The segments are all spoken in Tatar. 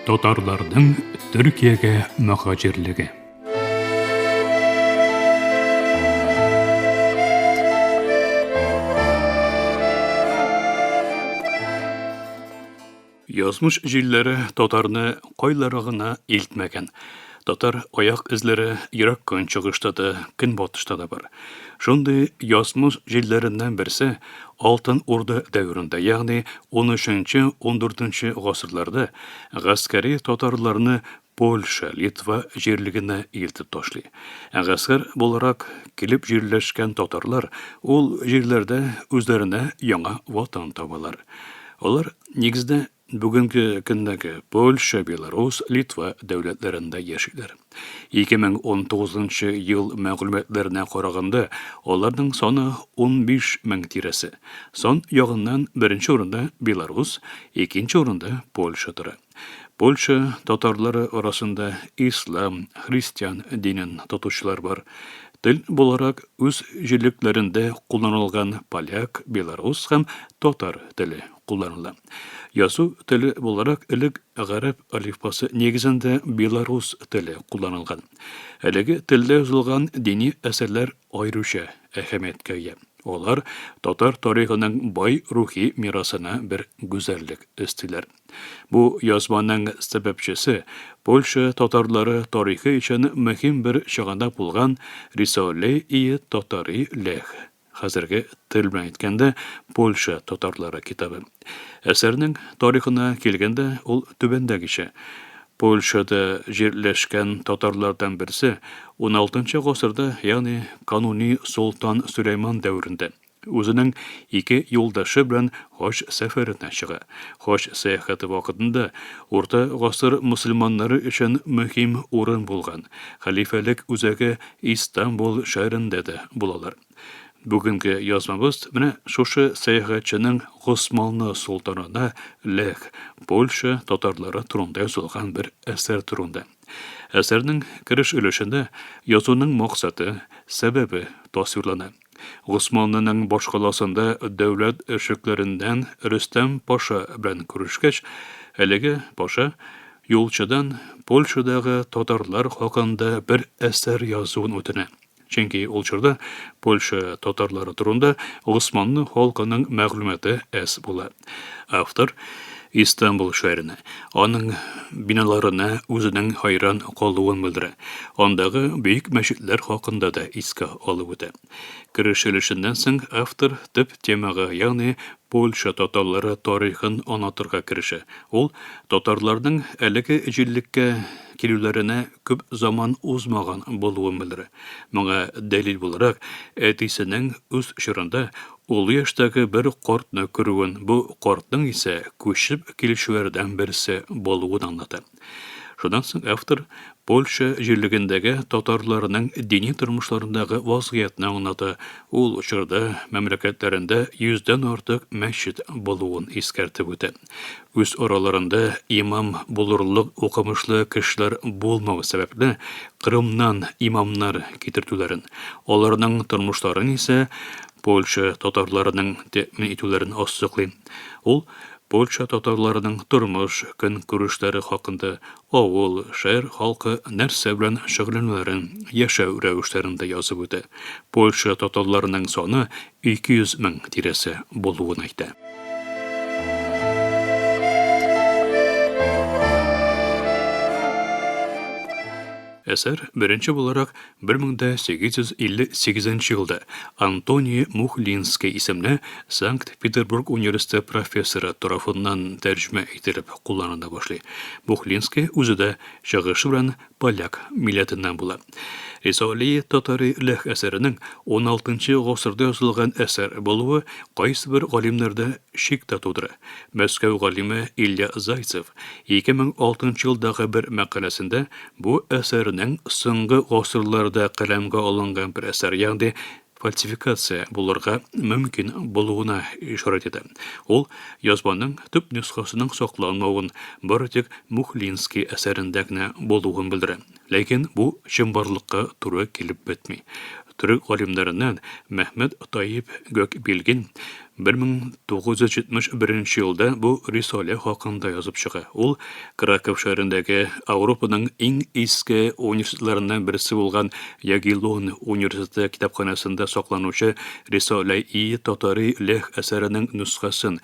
Татарларның Төркиягә мөхаҗирлеге. Язмыш җилләре татарны кайларга гына илтмәгән. Татар аяк эзләре ерак көнчыгышта да, көнбатышта да бар. Шундый язмыш җилләреннән берсе Алтын Урда дәверендә, ягъни 13-14 гасырларда гаскәри татарларны Польша, Литва җирлегенә илтеп ташлый. Ә гаскәр буларак килеп җирләшкән татарлар ул җирләрдә үзләренә яңа ватан табалар. Алар, нигездә, бүгенге көндәге Польша, Беларусь, Литва дәүләтләрендә яшиләр. 2019 ел мәгълүматларына караганда, аларның саны 15 мең тирәсе. Сан ягыннан беренче урында Беларусь, икенче урында Польша тора. Польша татарлары арасында ислам, христиан динен тотучылар бар. Тел буларак үз җирлекләрендә кулланылган поляк, белорус һәм татар теле кулланыла. Язу теле буларак элек гарәп алифбасы нигезендә белорус теле кулланылган. Әлеге телдә язылган дини әсәрләр аеруча әһәмияткә ия. Алар татар тарихының бай рухи мирасына бер гүзәллек өстиләр. Бу язманың сәбәпчесе Польша татарлары тарихы өчен мөһим бер чыганак булган Рисоле и татари лех хәзерге тел белән әйткәндә Польша татарлары китабы. Әсәрнең тарихына килгәндә ул түбәндәгечә. Польшада җирләшкән татарлардан берсе 16 гасырда, ягъни кануни солтан Сөләйман дәверендә Үзенең ике юлдашы белән хаҗ сәфәренә чыга. Хаҗ сәяхәте вакытында урта гасыр мөселманнары өчен мөһим урын булган хәлифәлек үзәге Истанбул шәһәрендә дә булалар. Бүгенге язмабыз менә шушы сәяхәтченең Госманлы солтанына Лех, Польша татарлары турында язылган бер әсәр турында. Әсәрнең кереш өлешендә язуның максаты, сәбәбе тасвирлана. Госманлының башкаласында дәүләт эшекләреннән Рөстәм паша белән күрешкәч, әлеге паша юлчыдан Польшадагы татарлар хакында бер әсәр язуын үтенә. Чөнки ул чорда Польша татарлары турында Госманлы халкының мәгълүматы әз була. Автор Истанбул шәһәренә, аның биналарына үзенең хайран калуын белдерә. Андагы бөек мәчетләр хакында да искә алып үтә. Кереш өлешеннән соң автор төп темага, ягъни Польша татарлары тарихын анатырга керешә. Ул татарларның әлеге җиллеккә килүләренә күп заман узмаган булуын белдерә. Моңа дәлил буларак, әтисенең үз чорында Олы яшьтәге бер картны күрүен, бу картның исә күчеп килүчеләрдән берсе булуын аңлата. Шуннан соң автор Польша җирлегендәге татарларның дини тормышларындагы вазгыятьне аңлата, ул чорда мәмләкәтләрендә йөздән артык мәчет булуын искәртеп үтә. Үз араларында имам булырлык укымышлы кешеләр булмау сәбәпле, Кырымнан имамнар китертүләрен, аларның тормышларын исә Польша татарларының тәэмин итүләрен ассыклый. Ул Польша татарларының тормыш, көнкүрешләре хакында Авыл, шәһәр халкы нәрсә белән шөгыльләнүләрен, яшәү рәвешләрен дә язып үтә. Польшада татарларның саны 200 мең тирәсе булуын әйтә. Әсәр, беренче буларак, 1858 елда Антоний Мухлинский исемле Санкт-Петербург университеты профессоры тарафыннан тәрҗемә ителеп кулланыла башлый. Мухлинский үзе дә чыгышы белән поляк милләтеннән була. Рисали татари лех әсәренең 16 гасырда язылган әсәр булуы кайсы бер галимнәрдә шик тә тудыра. Мәскәү галиме Илья Зайцев 2006 елдагы бер мәкаләсендә Бу әсәрнең соңгы гасырларда каләмгә алынган бер әсәр, ягъни фальсификация булырга мөмкин булуына ишарәт итә. Ул язманың төп нөсхәсенең сакланмавын, бары тик Мухлинский әсәрендә генә булуын белдерә. Ләкин бу чынбарлыкка туры килеп бетми. Төрек галимнәреннән Мәхмәт Таип Гөкбилгин 1971 елда бу рисалә хакында язып чыга. Ул Краков шәһәрендәге Ауропаның иң иске университетларыннан берсе булган Ягеллон университеты китапханәсендә сакланучы Рисалә-и Татари Лех әсәренең нөсхәсен,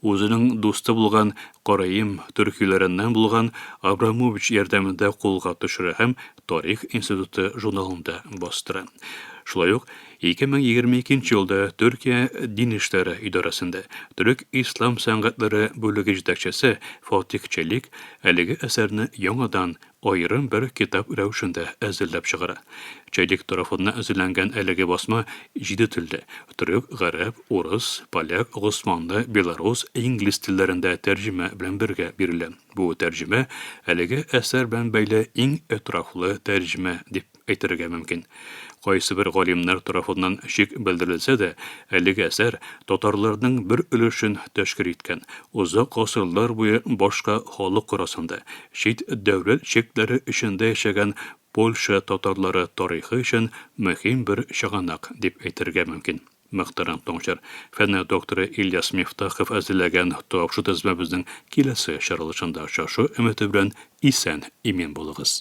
үзенең дусты булган Караим төркиләреннән булган Абрамович ярдәмендә кулга төшерә һәм Тарих институты журналында бастыра. Шулай ук 2022 нче елда Төркия дин эшләре идарәсендә төрек ислам сәнгатьләре бүлеге җитәкчесе Фатих Челик әлеге әсәрне яңадан аерым бер китап рәвешендә әзерләп чыгара. Челик тарафыннан әзерләнгән әлеге басма җиде телдә, төрек, гарәп, урыс, поляк, госманлы, белорус, инглиз телләрендә тәрҗемә белән бергә бирелә. Бу тәрҗемә әлеге әсәр белән бәйле иң этрафлы тәрҗемә дип әйтергә мөмкин. Кайсыбер галимнәр тарафыннан шик белдерелсә дә, әлеге әсәр татарларның бер өлешен тәшкил иткән, озак гасырлар буе башка халык арасында, чит дәүләт чикләре эчендә яшәгән Польша татарлары тарихы өчен мөһим бер чыганак, дип әйтергә мөмкин. Мөхтәрәм Туңчыр фәне докторы Ильяс Мифтахов әзерләгән тапшы тезмәбезнең киләсе чаралышында очрашу өмете белән исән-имин булыгыз.